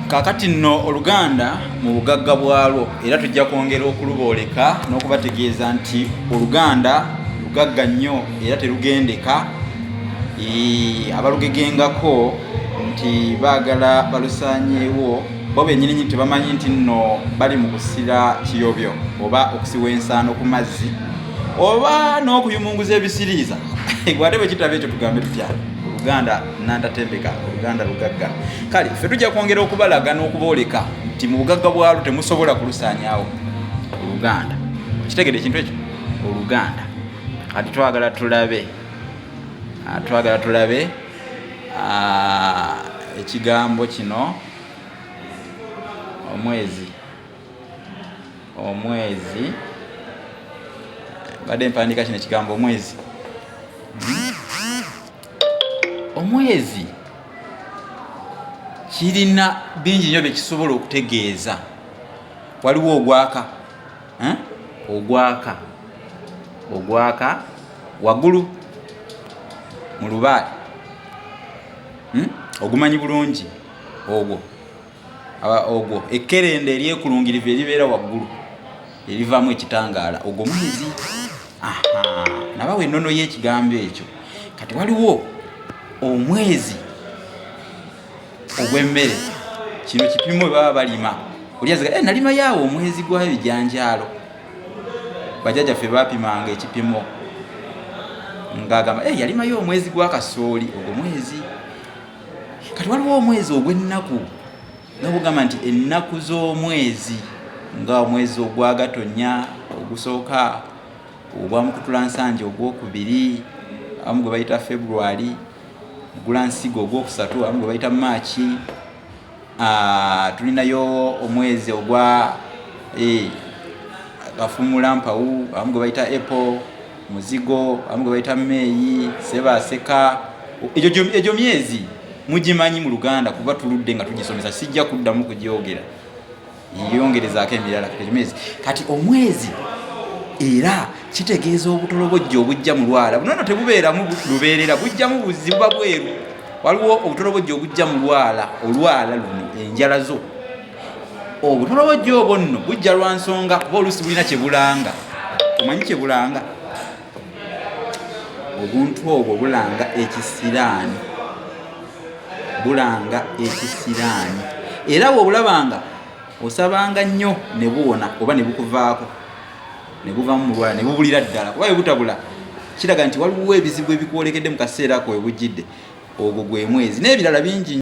kakati nno oluganda mu bugagga bwalwo era tujja kwongera okulubooleka n'okubategeeza nti oluganda lugagga nnyo era terugendeka abalugegengako nti baagala balusaanyeewo bo benyininyini tebamanyi nti nno bali mu kusira kiyobyo oba okusiwa ensaano ku mazzi oba n'okuyumunguza ebisiriiza gwate bwe kitaba ekyo tugambe tutya oluganda nantatembeka oluganda lugagga kale ffe tujja kwongera okubalaga n'okubooleka nti mu bugagga bwalwo temusobola kulusaanyawo oluganda kitegede ekintu ekyo oluganda kati twagala tulabe ah, twagala tulabe ah, ekigambo kino omwezi omwezi badde mpandiika kino ekigambo omwezi omwezi kirina bingi nyo byekisobola okutegeeza waliwo ogwaka eh? ogwaka ogwaka wagulu mu lubaale hmm? ogumanyi bulungi ogwo ogwo ekkerenda eryekulungirivu eribeera waggulu erivaamu ekitangaala ogwo mwizi nabawa ennono y'ekigambo ekyo kati waliwo omwezi ogw'emmere kino kipimo we baba balima olyaziga eh, nalima yaawo omwezi gw'ebijanjaalo bajajaffe bapimanga ekipimo ng'agamba eh, yalimayo omwezi gwa kasooli ogwo mwezi kati waliwo omwezi ogw'ennaku nga bugamba nti ennaku z'omwezi nga omwezi ogwagatonnya ogusooka ogwamukutula nsanja ogwokubiri amu gwe bayita february gulansigo ogwokusatu amu gwe bayita maaki Ah, tulinayo omwezi ogwa eh, gafumula mpawu abamu gwe bayita apple muzigo abamu gwe bayita meeyi sebaseka egyo myezi mugimanyi mu luganda kuba tuludde nga tugisomesa sijja kuddamu kugyogera yongerezaako emirala katemezi kati omwezi era kitegeeza obutolobojja obujja mu lwala bunono tebubeeramu lubeerera bujjamu buzibu ba bweru waliwo obutolobojja obujja mu lwala olwala luno enjala zo obutolobojja obwo nno bujja lwa nsonga kuba oluusi bulina kyebulanga omanyi kyebulanga obuntu obwo bulanga ekisiraani bulanga ekisiraani era wobulabanga osabanga nnyo ne buwona oba ne bukuvaako ne buvamu mulwala ne bubulira ddala kuba webutabula kiraga nti waliwo ebizibu ebikwolekedde mu kaseera ko webujjidde ogwo gwe mwezi n'ebirala bingi